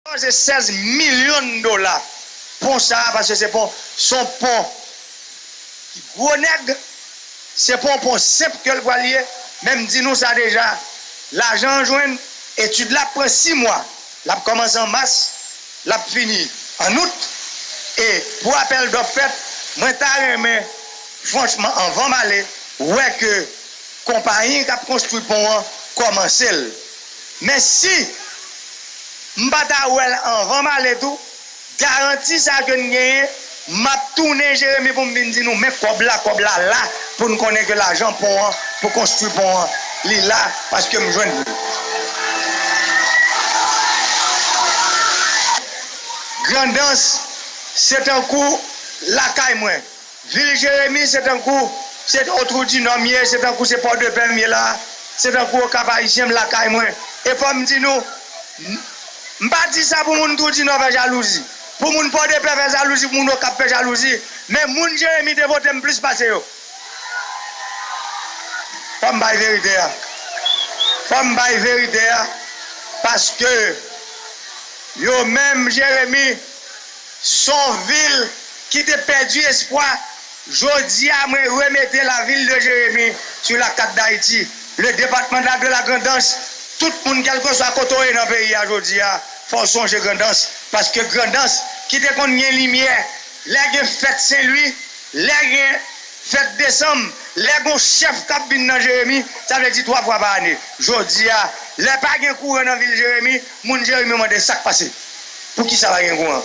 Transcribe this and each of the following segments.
Koze 16 milyon dola pon sa a paske se pon son pon ki gwo nèg se pon pon senp ke l pwal ye men m di nou sa deja lajan an jwenn etid la ap pran 6 mwa l ap kòmanse an mas l ap fini an out e pou apèl dòf fèt mwen ta renmen franchman anvan m ale wè ke konpayi k ap konstwi pon an kòmanse l. Mèsi! M pa ta wè l anvan m ale tou, garanti sa ke n genyen, m ap tounen Jeremi pou m vin di nou men kòb la, kòb la la pou n konnen ke lajan pon an pou konstwi pon an li la paske m jwenn li. Grandans se tankou lakay mwen. Vil Jeremi se tankou se on twou di nò m ye, se tankou se Pòdepè m ye la, se tankou Okap Ayisyen m lakay mwen. E fò m di nou, m pa di sa pou moun twou di nò fè jalouzi, pou moun Pòdepè fè jalouzi, pou moun Okap fè jalouzi, men moun Jeremi te vote m plis pase yo. Fò m bay verite a. Fò m bay verite a paske yo menm Jeremi. Son vil ki te pèdi espwa, jodi a mwen remete la ville de Jérémie sur la carte d'Haïti, le département la de la Grand'Anse, tout moun kelkeswa kote w ye nan peyi a jodi a fò w sonje Grand'Anse paske Grand'Anse ki te konn gen limyè lè gen fèt Sen Lwi, lè gen fèt desanm, lè gon chèf kap vin nan Jérémie sa vle di 3 fwa pa ane, jodi a lè pa gen kouran nan vil Jérémie. Moun jeremie mande sak pase poukisa pa gen kouran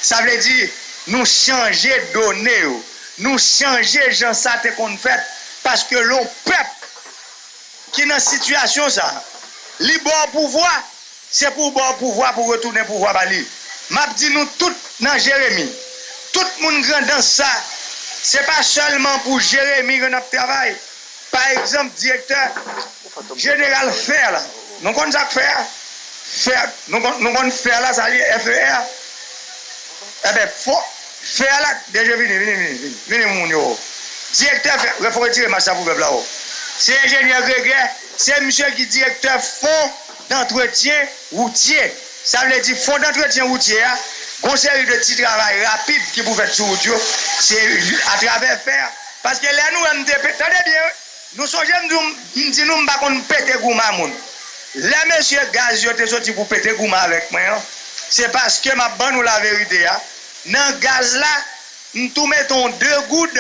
sa vle di nou chanje done yo nou chanje jan sa te konn fèt paske lè yon pèp ki nan sitiyasyon sa li ba w pouvwa se pou w ba w pouvwa pou retounen pouvwa ba li map di nou tout nan jeremie tout moun grandans sa se pa sèlman pou jeremie ke nap travay. Pa egzanp, direktè jeneral fer la, nou konn sa k fer a? Fer, nou konn fer la sa li ye, FER? Enben, fo fer la, DG vini, vini, vini, vini, vini moun yo o. Direktè fer, fo retire mask la pou pèp la o. Se enjenyè Gregè, se misye ki direktè fo dantretyen woutye. Sa vle di fo dantretyen woutye a, gon seri de ti travay rapid ki pou fèt sou wout yo, se atravè fer. Paske lè nou wè m te pe, tande byen wi, nou sonje m di w m di nou m pa konn pete gouman moun. Lè mesye gaz yo te soti pou pete gouman avèk mwen an, se paske m ap ban nou laverite a, nan gaz la, m tou mete yon 2 goud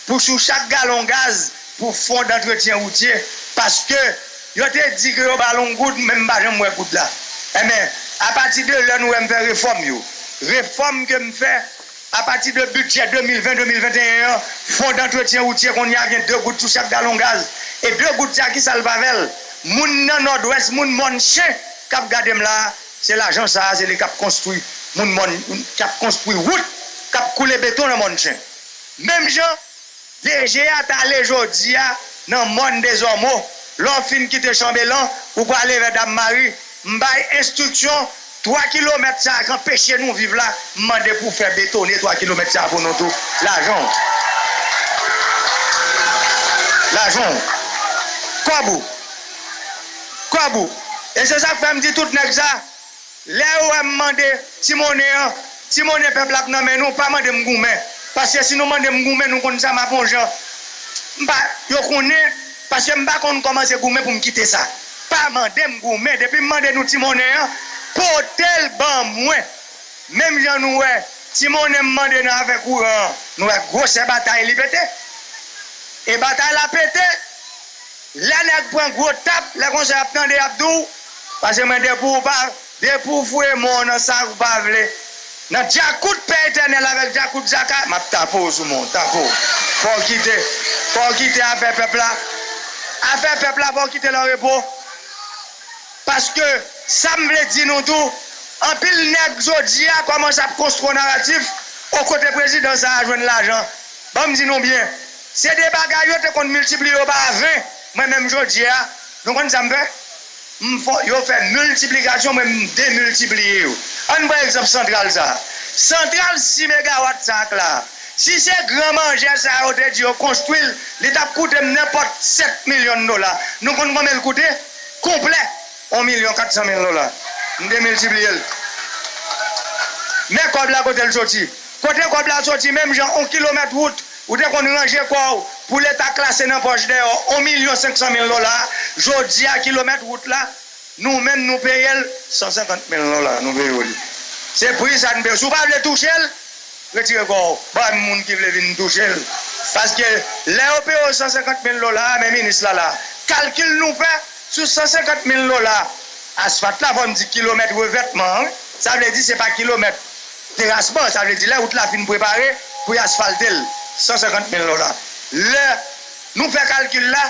pou sou chak galon gaz pou fon dantretyen woutye, paske yo te di ke yo ba l yon goud men m pa janm wè goud la. Enben, apati de lè nou wè m fè refòm yo, refòm ke m fè, Apati de bidjè 2020, 2021 an, Fon dantretyen woutyè kounye a gen 2 goud sou chak galon gaz. E 2 goud sa kisa l va avè l? Moun nan Nòdwès, moun mòn chen k ap gade m la a, se lajan sa a se li k ap konstwi moun mòn, k ap konstwi wout, k ap koule beton nan mòn chen. Menm jan. DG a t ale jodi a nan mòn Dezòmo. Lè w fin kite Chanbelan, ou prale vè Dam Mari. M bay enstriksyon, 3 kilomèt sa a k anpeche nou viv la, m mande pou w fè betone 3 kilomèt sa a pou nou tou. Lajan w. Lajan w. Kòb ou. Kòb ou. E se sa k fè m di tout nèg sa. Lèw wèm mande ti monnen an, ti monnen pèp la ap nan men nou, pa mandem goumen, paske si nou mandem goumen nou konn sa map on jan mpa yo konnen, paske mpa konn kòman se goumen poum kite sa, pa mandem goumen, depim mande nou ti monnen an, potel ban mwen, menm jan nou wè ti monnen m mande nan afè kouran an, nou wè gwosè batay li pete, e batay la pete. Lè nèg pran gwo tap lè konsa yap tande yap di w pase mwen depi w pa depi w fouye men w nan sa ou pa vle nan djakout pè etènèl avèk djakout djaka map tape w sou men w tape w fò w kite fò w kite afè pèp la afè pèp la fò w kite l an repo paske sa m vle di nou tou anpil nèg jodi a kòmanse ap konstro naratif o kote prezidan sa a jwenn lajan ban m di nou byen Se de bagay yo te konn miltipliye yo pa ven, mwen menm jodi a, nou konn sa m fè? M fò yo fè miltiplikasyon mwen m demiltipliye yo. An n pran egzanp santral sa a. Santral 6 megawat sa k la, si se gran manjè sa yo te di yo konstwi l, li t ap koute m nenpòt 7 milyon dola. Nou konn konben l koute? Konplè, 1 milyon 400 mil dola. M demiltipliye l. Men kòb la kote l soti. Kote kòb la soti menm jan 1 kilomèt wout. Ou te konn ranje kò w pou leta klase nan pòch deyò on milyon senk san mil dola, jodi a kilomèt wout la nou menm nou peye l san senkant mil dola nou peye w li. Se pri sa nou peye w. Si w pa vle touche l, retire kò w bay moun ki vle vin touche l. Paske lè yo peye w san senkant mil dola a men minis la la. Kalkil nou fè sou san senkant mil dola asfat la fò n di kilomèt revètman an wi. Sa vle di se pa kilomèt. Terasman, sa vle di lè wout la fin prepare pou y asfalte l, 150 mil dola. Lè Nou fè kalkil la,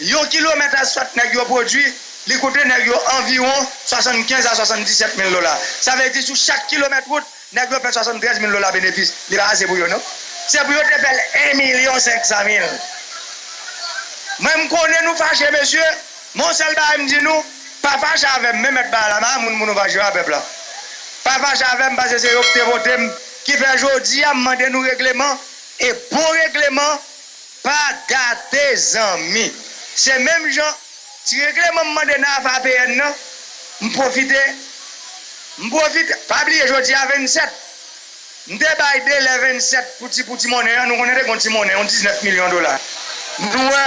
yon kilomèt asfat nèg yo pwodui, li koute nèg yo anviwon 75 a 77 mil dola. Sa vle di sou chak kilomèt wout, nèg yo fè 73 mil dola benefis. Li pa ase pou yo non. Se pou yo te fè l 1 milyon 500 mil. Mwen m konnen nou fache mesye. Men yon sèl bagay m di nou, pa fache avè m men mèt bagay la, m pa moun pou nou fache yo a pèp la. Pa fache avè m pase se yo ki te vote m ki fè jodi a m mande nou regleman e bon regleman pa gate zanmi. Se menm jan ti regleman m mande nan afe APN nan m pwofite m pwofite pa bliye jodi a 27. M te bay delè 27 pou ti pou ti monnen an, nou konnen te gon ti monnen, yon 19 milyon dola. Nou wè,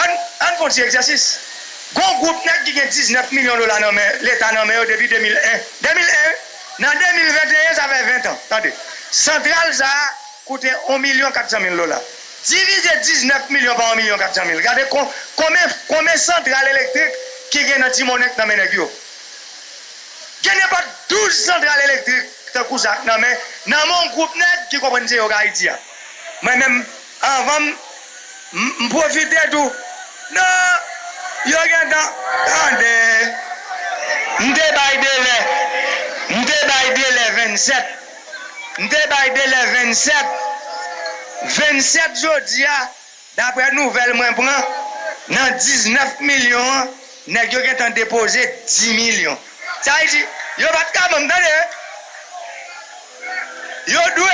ann, ann fon ti egzèsis. Gon gwoup nèg ki gen 19 milyon dola nan men, leta nan men yo depi 2001. 2001 wi! Nan 2021 sa fè 20 tan. Tande, santral sa a koute on milyon 400 mil dola. Divize 19 milyon pa on milyon 400 mil, gade kon, konben, konben santral elektrik ki gen nan ti monnen k nan men nèg yo. Gen nenpòt 12 santral elektrik tankou sa k nan men nan men yon gwoup nèg ki konprann se yo k Ayiti a. Mwen menm anvan m m pwofite tou nan yo gentan tande m te bay delè m te bay delè 27 m te bay delè 27 27 jodi a. Daprè nouvèl mwen pran, nan 19 milyon an, nèg yo gentan depoze 10 milyon. Sa vle di, yo pa t ka ban m, tande! Yo dwe,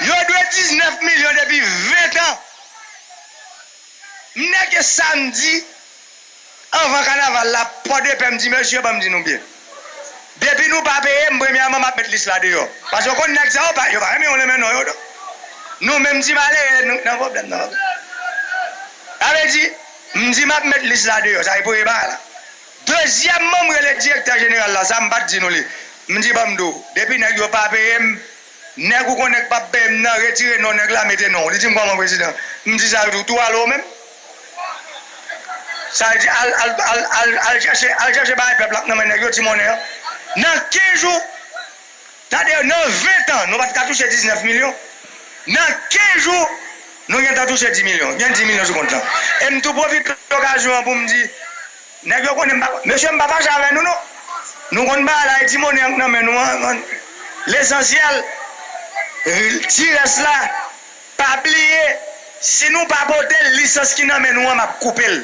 yo dwe 19 milyon depi 20 tan. M nèke samdi. Anvan kanaval la pòdepè m di mesye banm di nou byen depi nou pa peye m premyèman map met lis la deyò paske ou konn nèg sa yo pa yo pa renmen yon renmen non yo non nou menm ti malere nou k nan pwoblèm nan ok sa vle di m di map met lis la deyò sa e premye bagay la dezyèmman m rele direktè jeneral la sa m pat di nou li m di banm di w depi nèg yo pa peye m nèg ou konnen k pap peye m nan retire non nèg la mete non w li di m kòman prezidan m di sa li di w tou ale w menm. Sa vle di al al al al al chèche al chèche bagay pèp la nan men nèg yo ti monnen an nan 15 jou tande nan 20 tan nou pat ka touche 19 milyon nan 15 jou nou gentan touche 10 milyon gen 10 milyon sou kont lan e m tou pwofite okazyon an pou m di nèg yo konnen m pa mesye m pa fache avè nou non nou konn bagay la e ti monnen an k nan men nou an lesansyèl ti rès la. Pa bliye si nou pa potel lisans ki nan men nou an map koupel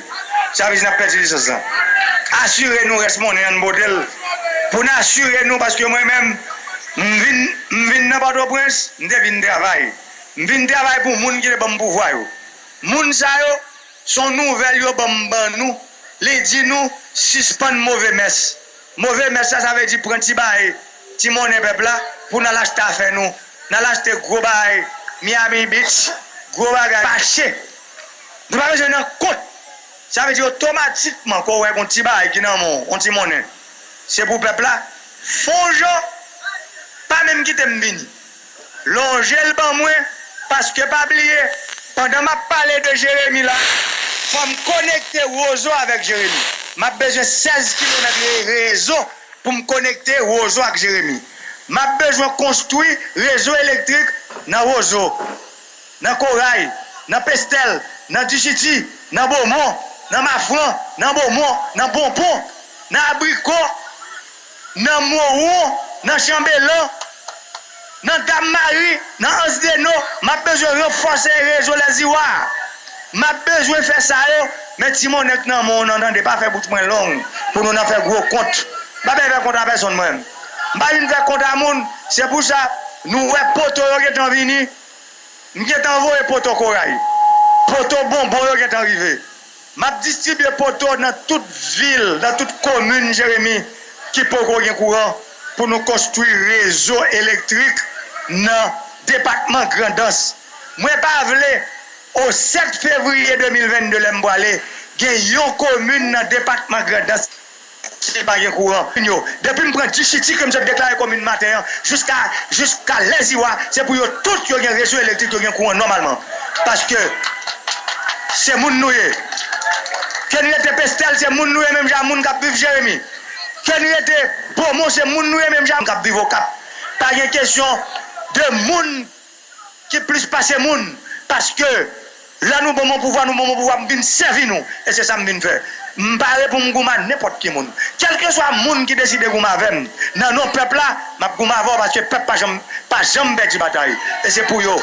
sa vle di nap pèdi lisans lan asire nou rès monnen an n potel pou n asire nou paske mwen menm m vin m vin nan pòtoprens m te vin travay m vin travay pou moun ki te banm pouvwa yo moun sa yo son nouvèl yo banm ban nou li di nou sispann move mès. Move mès la sa vle di pran ti baye, ti monnen pèp la pou n al achte afè nou, n al achte gwo baay Miami Beach, gwo bagay mache. Nou pa bezwen nan kont. Sa vle di otomatikman ke w wè gen yon ti baay ki nan men w, yon ti monnen, se pou pèp la fon jan pa menm kite m vini. Lonje l ban mwen, paske pa bliye, pandan m ap pale de Jeremi la, fò m konekte Wozo avèk Jeremi. M ap bezwen 16 kilomèt rezo pou m konekte Wozo ak Jeremi. M ap bezwen konstwi rezo elektrik nan Wozo, nan Koray, nan Pestèl, nan Dichiti, nan Bomon, nan Mafran, nan Bomon, nan Bonpon, nan Abriko, Nan Moron, nan Chanbelan, nan Dam Mari, nan Ans Deno, m ap bezwen ranfòse rezo Lèziwa a. M ap bezwen fè sa yo, men ti monnen k nan men w nan tande, pa fè bouch mwen long pou nou nan fè gwo kont. M pa bèn fè kont a pèsonn mwen. M pa vin fè kont a moun. Se pou sa nou wè poto yo gentan vini. M gentan voye poto koray. Poto bonbon yo gentan rive. M ap distribye poto nan tout vil, nan tout komin Jeremi ki poko gen kouran pou nou konstwi rezo elektrik nan depatman Grandans. Mwen pa vle o 7 fevriye 2022 lè m pwale gen yon komin nan depatman Grandans ki. Kite pa gen kouran. Depi m pran Dichiti ke m sot deklare komin maten an jiska jiska lè ziwa se pou yo tout yo gen rezo elektrik yo gen kouran nòmalman paske se moun nou ye ke n rete Pestèl se moun nou ye menm jan a moun k ap viv Jeremi ke n rete Bomon se moun nou ye menm jan a moun k ap viv Okap pa gen kesyon de moun ki plis pase moun paske lè nou banm yon pouvwa nou banm yon pouvwa m vin sèvi nou e se sa m vin fè m pare pou m goumen a nenpòt ki moun kèlkeswa moun ki deside goumen avè m nan non pèp la m ap goumen avè w paske pèp pa janm pa janm pèdi batay e se pou yo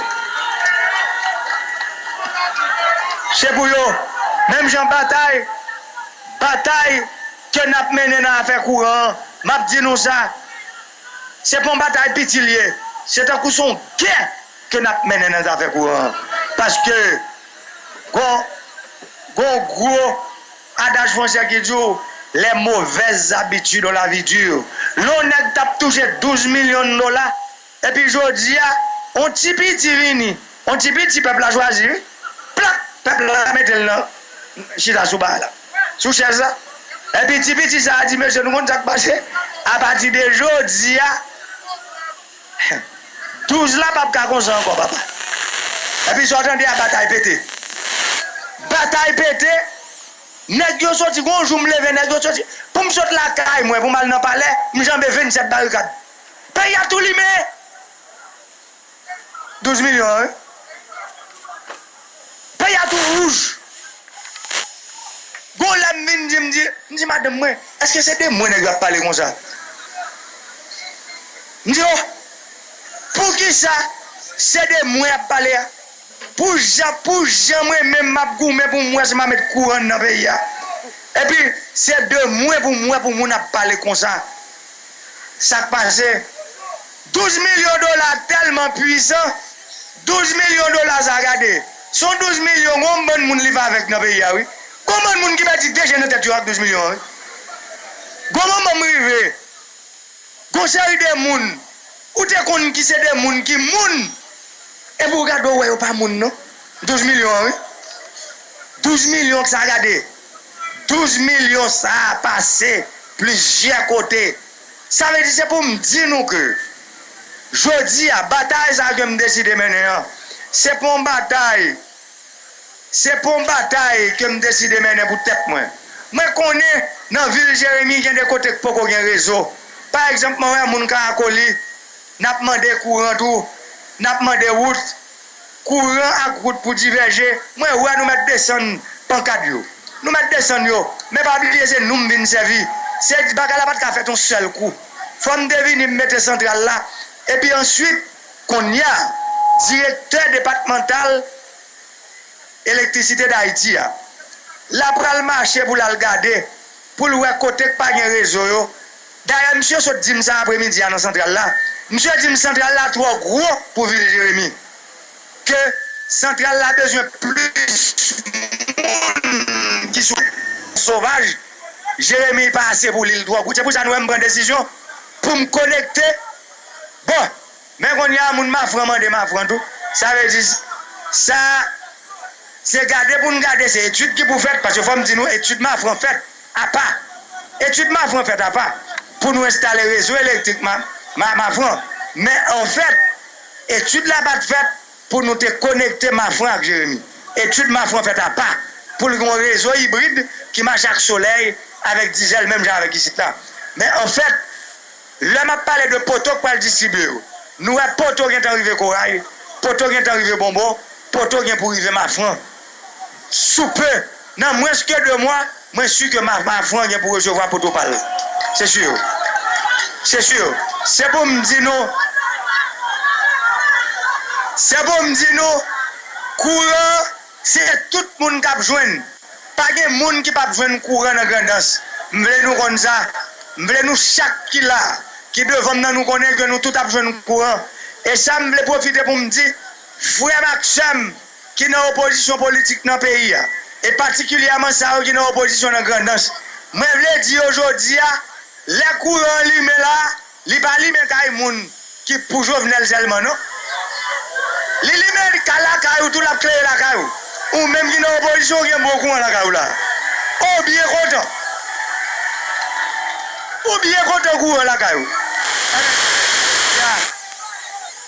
se pou yo menm jan batay batay ke n ap mennen nan afè kouran an m ap di nou sa. Se pa yon batay piti li ye, se tankou se yon gè ke n ap mennen nan zafè kouran an. Paske gon yon gwo adaj fransè ki di w les mauvaises habitudes ont la vie dure. Lè yon nèg t ap touche 12 milyon dola epi jodi a yon ti piti vini, yon ti piti pèp la chwazi wi, plak! pèp la mete l nan chita sou ba la. sou chèz la. Epi ti piti sa a di, Mesye, nou konn sa k pase? Apati de jodi a, douz la pap ka konsa ankò, papa. Epi sa w tande a, batay pete. Batay pete, nèg yo soti, gon jou m leve, nèg yo soti, pou m sot lakay mwen pou m al nan palè, m janbe vennsèt barikad. Peyi a tou limen! 12 milyon an wi. Peyi a tou wouj. Gon lè m vin di m di, m di madanm mwen, èske se de mwen nèg yo ap pale konsa? M di oh, poukisa se de mwen y ap pale a? Pou jan, pou jan mwen menm m ap goumen pou m wè si m a met kouran nan peyi a. Epi se de mwen pou m wè pou moun ap pale konsa. Sa k pase? 12 milyon dola telman pwizan 12 milyon dola sa gade son 12 milyon gon bann moun li pa avek nan peyi a wi gon bann moun ki pèdi 2 je nan tèt yo ak 12 milyon an wi gon moman m rive gon seri de moun ou te konn ki se de moun ki moun epi ou gade ou wè yo pa moun non 12 milyon an wi 12 milyon sa gade 12 milyon sa pase plizyè kote. Sa vle di se pou m di nou ke jodi a batay sa ke m deside mennen an, se pou yon batay, se pou yon batay ke m deside mennen pou tèt mwen. Mwen konnen nan vil Jeremi gen de kote k poko gen rezo. Pa egzanp mwen wè moun Karakoli, n ap mande kouran tou, n ap mande wout. Kouran ak wout pou divèje. Mwen wè nou mèt desann pankad yo. Nou mèt desann yo. Men pa bliye se nou m vin sèvi. Se di bagay la pa t ka fèt yon sèl kou. Fò m te vini m mete santral la. Epi answit, konnya, direktè depatmantal Elektrisite Dayiti a. L apral mache pou l al gade, pou l wè kote k pa gen rezo yo. Dayè misye sot di m sa apremidi a nan santral la, misye di m santral la twò gwo pou vil Jeremi, ke santral la bezwen plis moun ki sou sovaj, Jeremi pa ase pou li, li twò gwo. Se pou sa nou wè m pran desizyon pou m konekte bò. Men kounye a moun Mafran mande Mafran tou, sa vle di sa se gade pou n gade, se etid ki pou fèt, paske fò m di nou etid Mafran fèt apa, etid Mafran fèt apa pou nou enstale rezo elektrik Mafran, men an fèt etid la pa t fèt pou nou te konekte Mafran ak Jeremi. Etid Mafran fèt apa pou l gen yon rezo ibrid ki mache ak solèy avèk dizèl menm jan avèk isit la, men an fèt. Lè map pale de poto k pral distribye yo, nou wè poto gentan rive Koray, poto gentan rive Bonbo, poto gen pou rive Mafran. Sou peu, nan mwens ke 2 mwa, mwen su ke Mafran gen pou resevwa poto pa l. Se sur. Se sur. Se pou m di nou, se pou m di nou, kouran. Se tout moun kap jwenn. Pa gen moun ki pap jwenn kouran nan Grandans. M vle nou konn sa. M vle nou chak ki la, ki devan m nan nou konnen ke nou tout ap jwenn kouran. E sa m vle pwofite pou m di frè m ak sè m ki nan opozisyon politik nan peyi a, e patikilyèman sa yo ki nan opozisyon nan Grandans. Mwen vle di yo jodi a, lè kouran an limen la, Li pa limen kay moun ki pou jovenel selman non li limen kay lakay ou tou lap klere lakay ou ou menm ki nan opozisyon ou gen bon kouran lakay ou la ou byen kontan ou byen kontan kouran lakay ou ebyen se vre jounen jodia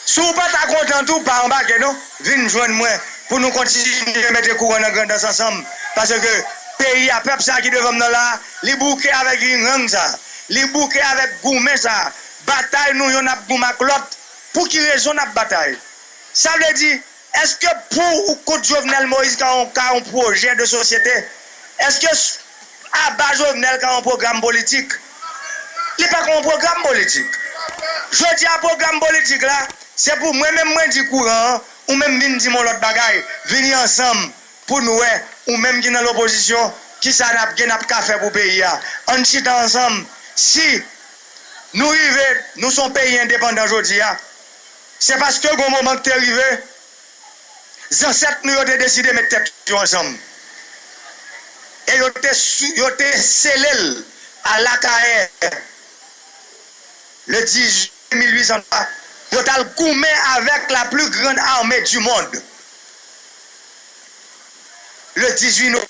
si ou pata kontan tou pa anbake non vin jwenn mwen pou nou kontinye mete kouran nan grandans ansanm paske peyi a pèp sa ki devanm nan la li bouke avèk ringrang sa Li bouke avèk goumen sa a, batay nou yonn ap goumen ak lòt, pou ki rezon n ap batay? Sa vle di, èske pou ou kont Jovenel Moïse ka yon ka yon pwojè de sosyete? Èske aba Jovenel ka yon pwogram politik? Li pa ka yon pwogram politik. Jodi a pwogram politik la, se pou mwen menm mwen di kouran an, ou menm vin di m yon lòt bagay, vini ansanm pou n wè ou menm ki nan lopozisyon kisa nap gen nap ka fè pou peyi a ann chita ansanm si Nou rive Nou son peyi endepandan jodi a se paske gon moman k te rive zansèt Nou yo te deside met tèt yo ansanm e yo te yo te sele l a lakayè le 10 jiyè 1803 yo tal goumen avèk la pli grand armée du monde. le 18 nov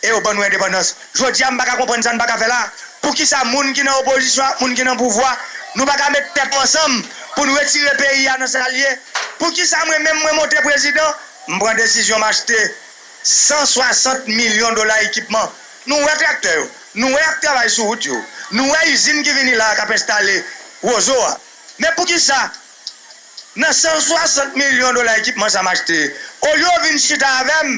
e yo ban nou endepandans jodi a m paka konprann sa n paka fè la poukisa moun ki nan opozisyon ak moun ki nan pouvwa nou paka met tèt nou ansanm pou n retire peyi a nan sa l ye poukisa mwen menm mwen monte prezidan m pran desizyon m achte 160 milyon dola ekipman nou wè traktè yo nou wè y ap travay sou wout yo nou wè izin ki vini la a k ap enstale wozo a men poukisa. Nan 160 milyon dola ekipman sa m achte, olye w vin chita avè m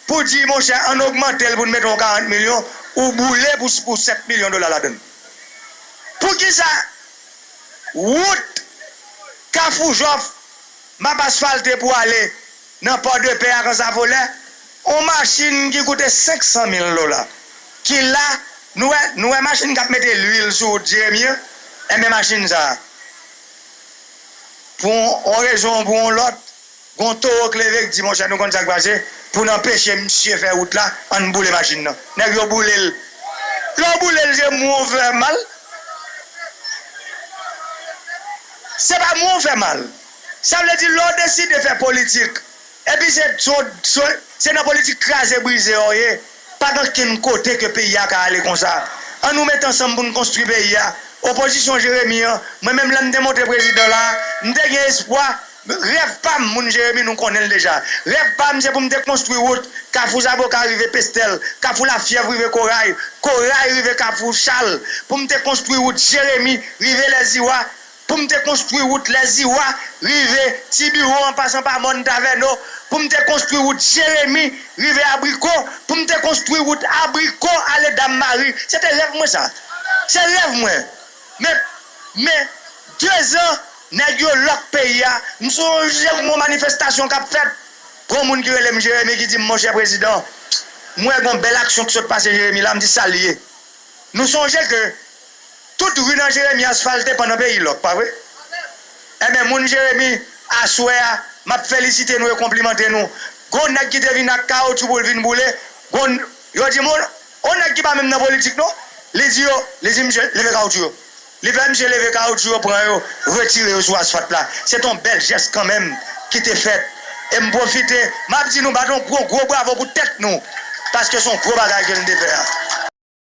pou di monchè ann ogmante l pou n mete yon 40 milyon, ou boule pou 7 milyon dola ladan l. Poukisa wout Kafou Jòf m ap asfalte pou ale nan Pòdepè ak Ansafolè, yon machin ki koute 500 mil dola ki la, nou wè machin k ap mete luil sou wout Jeremi an, enben machin sa a. Pou yon rezon ou pou yon lòt, gon towo k leve k di monchè nou konn sa k pase, pou n anpeche msye fè wout la, an n boule machin nan. Nèg yo boule l. Lè w boule l se mwen w fè mal. Se pa mwen w fè mal. Sa vle di lè w deside fè politik epi se nan politik kraze brize w ye, Pa gen okenn kote ke peyi a ka ale konsa. An nou met ansanm pou n konstwi peyi a. Opozisyon Jeremi an, mwen menm lè m te monte prezidan la a, m te gen espwa, rèv pa m, moun Jeremi nou konnen l deja. Rèv pa m se pou m te konstwi wout Kafou Zaboka rive Pestèl, Kafou Lafyèv rive Koray, Koray rive Kafou Chal, pou m te konstwi wout Jeremi rive Lèziwa, Pou m te konstwi wout Lèziwa, rive Ti Biwo an pasan pa Mòn Tavèno, pou m te konstwi wout Jeremi, rive Abriko, pou m te konstwi wout Abriko ale Dam Mari. Se te rèv mwen sa. Se rèv mwen. Men, men, dezan, nèg yo lòk peyi a. M sonje m wè manifestasyon k ap fèt, gon moun ki rele m Jeremi ki di m monchè prezidan, m wè gon bèl aksyon ki sot pase Jeremi la, m di sa l ye. Nou sonje ke. Tout ru nan jeremi asfalte pandan peyi lòk pa vre enben moun jeremi aswè a map felisite nou e konplimante nou gon nèg ki te vin ak kawotyou poul vin boule gon yo di moun on nèg ki pa menm nan politik non li di yo li di misye leve kawotyou yo li fè misye leve kawotyou yo pran yo retire yo sou asfalt la se ton bèl jès kanmenm ki te fèt e m pwofite map di nou bat on gwo gwo bravo pou tèt nou paske son gwo bagay ke nou te fè a.